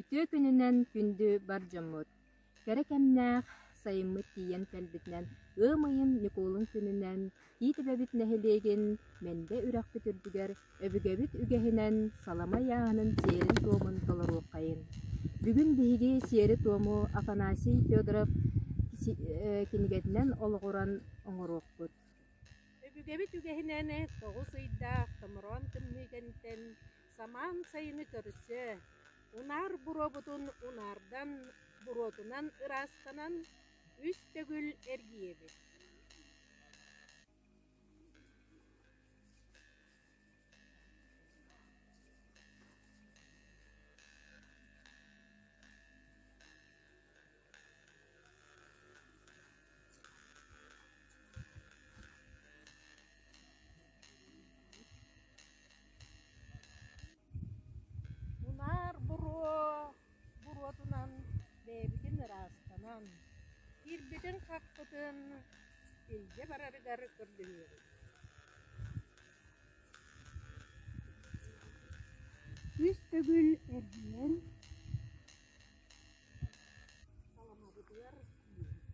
Үтүө күнүнэн күндү бар дьоммут! Кэрэ кэмнээх сайыммыт тиийэн кэлбитинэн ыам ыйын Ньукуолун күнүнэн Тиитибэбит нэһилиэгин Мэндэ үрэхпит үрдүгэр өбүгэбит үгэһинэн саламай ааһынын сиэрин-туомун толоруоххайын! Бүгүн биһиги сиэри-туому Афанасий Федоров кинигэтинэн олоҕуран оҥоруохпут Өбүгэбит үгэһинэн тоҕус ыйдаах томороон тымныыгынтэн самаан сайыны көрсө, унаар буруобутун унаардан, буруотунан ыраастанан, үс төгүл эргийэбит Мунаар буруо буруотунан бэйэбитин ыраастанан, киирбитин хаппытын илдьэ барарыгар көрдөһүөбүт Күүс төгүл эргийэн Саламабытыгар киирэбит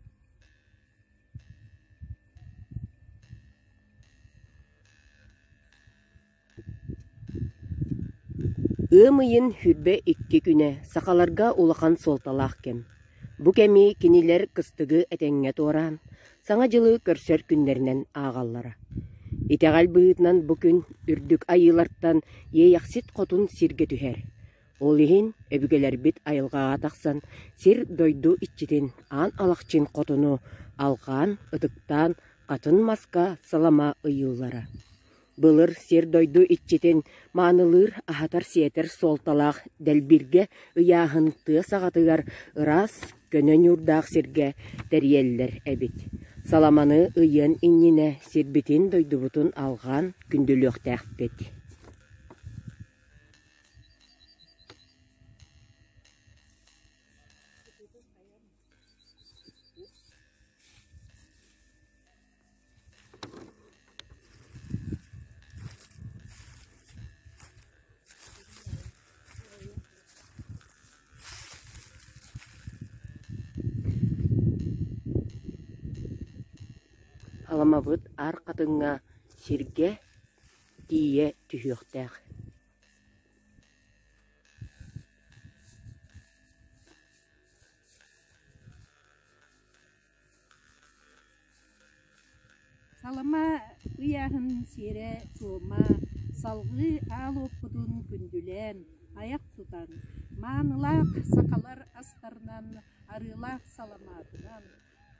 Ыам ыйын сүүрбэ икки күнэ сахаларга улахан суолталаах кэм. Бу кэми кинилэр кыстыгы этэҥҥэ туораан, Саҥа дьылы көрсөр күннэринэн ааҕаллара. Итэҕэл быһыытынан бу күн Үрдүк Айыылартан Иэйэхсит Хотун сиргэ түһэр. Ол иһин өбүгэлэрбит айылҕаҕа тахсан сир-дойду иччитин аан алахчын хотуну алҕаан, ытыктаан хатын маска сылама ыйыыллара. Былыр сир-дойду иччитин маанылыыр, аһатар-сиэтэр суолталаах дэлбиргэ ыйааһын тыа саҕатыгар ыраас, көнө ньуурдаах сиргэ тэрийэллэр эбит. Саламаны ыйыан иннинэ сирбитин-дойдубутун алҕаан күндүлүөхтээхпит. Халамабыт аар хатыҥҥа, сиргэ тиийэ түһүөхтээх Салама ыйааһын сиэрэ суома салгыы аал уоппутун күндүлээн, айах тутан, маанылаах сахалар астарынан, арыылаах саламаатынан,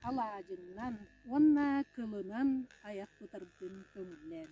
алаадьынан уонна кылынан айах тутарбытын көҥүллээн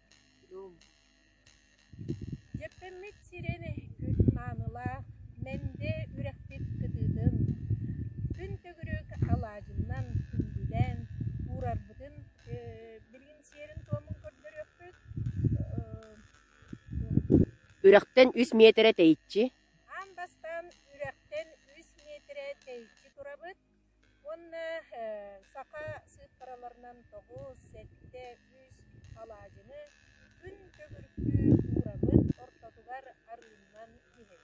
Дьэппэммит сирэн эһиккит маанылаах Мэндэ үрэхпит кытыытын Күн төгүрүк алаадьыннан күндүлээн уурарбытын билигин сиэрин-туомун көрдөрүөхпүт Үрэхтэн үс миэтэрэ тэйиччи Уонна саха сыыппараларынан тоҕус, сэттэ, үс алаадьыны күн төгүрүкү уурабыт ортотугар арыыннан иһин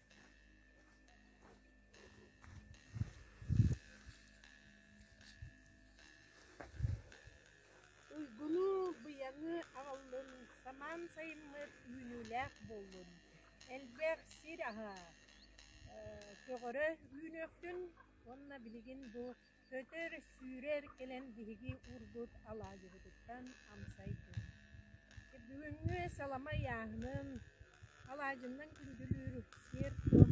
Уйгуну, быйаҥы аҕаллын, самаан сайыммыт үүнүүлээх буоллун, элбэх сир аһа, көҕөрө үүнүөхтүн уонна билигин бу Көтөр, сүүрэр кэлэн биһиги уурбут алаадьыбытыттан амсай тыына. Бүгүҥҥү саламай ааһынын, алаадьымнан күндүлүүр сиэр-туом